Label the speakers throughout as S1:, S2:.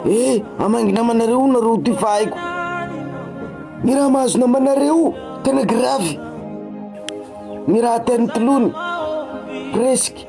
S1: Eh, amangy namanareo nareo ty fa haiko Ny raha mahazo namanareo tena grave Ny raha ataon'ny tolony presque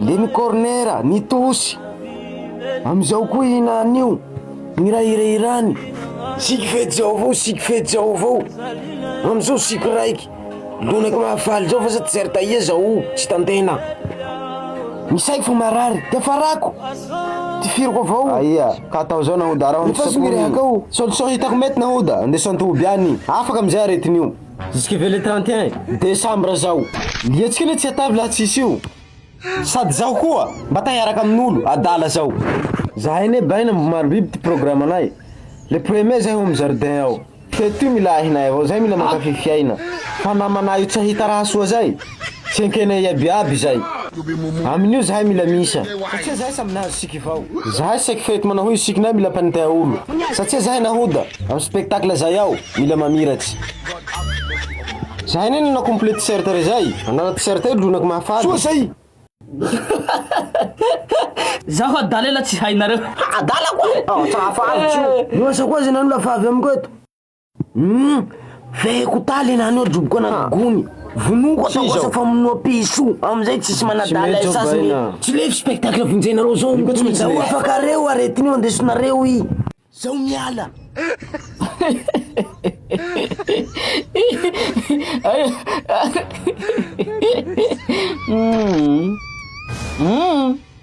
S1: Le ny corner ny tosy Amizao koa hina anio Miray hira hirany Siky fety zao avao siky fety zao avao Amizao siky raiky Lonaka mahafaly zao fa sa tsy zary tahia zao tsy tantena Misaiko fa marary de farako Ty firiko avao Aia ka atao zao nahoda Raha ny fasy mirehaka ao Solution hitako mety nahoda Andeso an-toby any Afaka amizay aretina io Jusque le trente et un décembre zao. Ny hetsika anie tsy atavy laha tsisy io. Sady zaho koa mba ta hiaraka amin'olo adala zao. Zahay anie baina mbo marobiby ty programme nay le premier zahay home jardin ao teto ty mila ahinay avao zay mila mankafy fiaina fa namanay io tsy ahita raha soa zay. Tsy ekenay iabiaby izay. Amin'io zahay mila miisa. Satsia zahay samy nahazo siky vao. Zahay saiky fety manao hoe sikinay mila mpanintay aolo. Satsia zahay nahoda. Am spectacle zahay ao mila mamiratsy. Zahay ne nanao complet t-shirt re zay. Anala t-shirt io lonako mahafaly. Soa zay.
S2: Zaho adala ela tsy hainareo. Adala koa!
S1: Aotra hafa avy tsy ho. Mihoasa koa aza ianao no lafa avy amiko eto. Humm feheko taly enah anio ajoboka anah gony vonoiko ataoko asa famonoam-piso amizay tsisy manadala ay sasiny e. Tsy lefy spectacle vonjenareo zao io tsy maintsy lefy. Afaka are o aretina io andesonareo i. Zao miala.
S2: Humm. Humm.